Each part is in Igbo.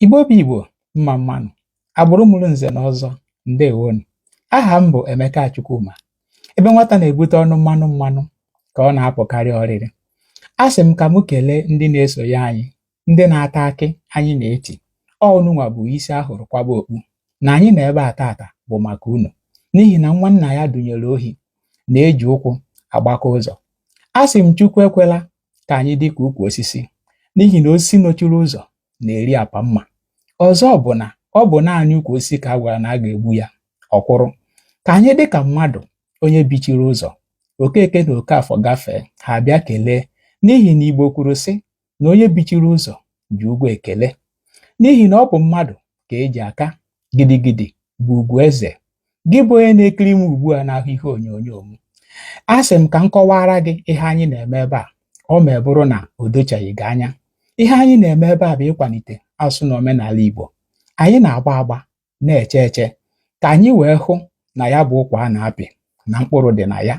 Igbo bụ Igbo mma mma nụ agbụrụ mụrụ nze na ọzọ ndewo nụ aha m bụ Emeka Chukwuma ebe nwata na-ebute ọnụ mmanụ mmanụ ka ọ na-apụkarị ọrịrị asị m ka m kelee ndị na-esonye anyị ndị na-ata akị anyị na-eti unu nwa bụ isi a hụrụ kwaba okpu na anyị nọ ebe a tata bụ maka unu n'ihi na nwa nna ya dunyere ohi na-eji ụkwụ agbaka ụzọ asị m Chukwu ekwela ka anyị dị ka ukwu osisi n'ihi na osisi nọchiri ụzọ na-eri apa mma ọzọ bụ na ọ bụ naanị ukwu osisi ka a gwara na a ga-egbu ya ọ kwụrụ ka anyị dị ka mmadụ onye bichiri ụzọ Okeke na Okafọ gafee ha abịa kelee n'ihi na Igbo kwuru sị na onye bichiri ụzọ ji ụgwọ ekele n'ihi na ọ bụ mmadụ ka e ji aka gidigidi bụ ugwu eze gị bụ onye na-ekiri m ugbu a n'ahụ ihe onyonyo m asị m ka m kọwaara gị ihe anyị na-eme ebe a ọ ma bụrụ na o dochaghị gị anya ihe anyị na-eme ebe a bụ ịkwalite asụsụ na omenala Igbo anyị na-agba agba na-eche eche ka anyị wee hụ na ya bụ ụkwa a na-apị na mkpụrụ dị na ya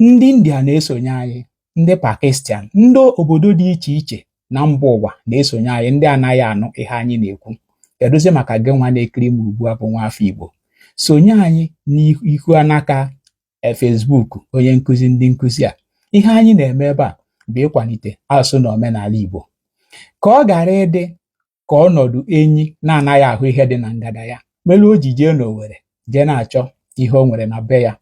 ndị India na-esonye anyị ndị Pakistan ndị obodo dị iche iche na mba ụwa na-esonye anyị ndị anaghị anụ ihe anyị na-ekwu kedụzi maka gị nwa na-ekiri m ugbu a bụ nwa afọ Igbo sonye anyị n'ihu anaka e, Facebook onye nkụzi ndị nkụzi a ihe anyị na-eme ebe a bụ ịkwalite asụsụ na omenala Igbo ka ọ ghara ịdị ka ọnọdụ enyi na-anaghị ahụ ihe dị na ngada ya mere o ji jee n'Owere jee na-achọ ihe o nwere na be ya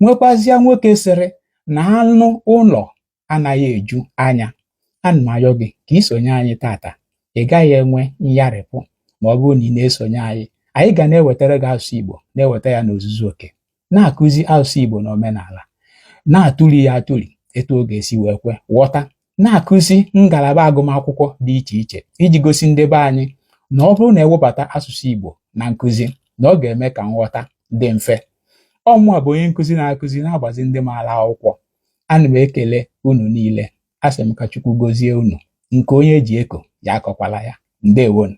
nwekwazịa nwoke sịrị na anụ ụlọ anaghị eju anya ana m ayọ gị ka i sonye anyị tata ị gaghị enwe nyarịpụ ma ọ bụrụ na ị na-esonye anyị anyị ga na-ewetara gị asụsụ Igbo na-eweta ya n'ozuzu oke na-akụzi asụsụ Igbo na omenala na-atụli ya atụli etu ọ ga-esi wee kwe nghọta na-akụzi ngalaba agụmakwụkwọ dị iche iche iji gosi ndị be anyị na ọ bụrụ na e webata asụsụ Igbo na nkụzi na ọ ga-eme ka nghọta dị mfe ọ mụa bụ onye nkụzi na-akụzi na-agbazi ndị maara akwụkwọ ana m ekele unu niile asị m ka Chukwu gozie unu nke onye ji eko ya akọkwala ya ndewo nụ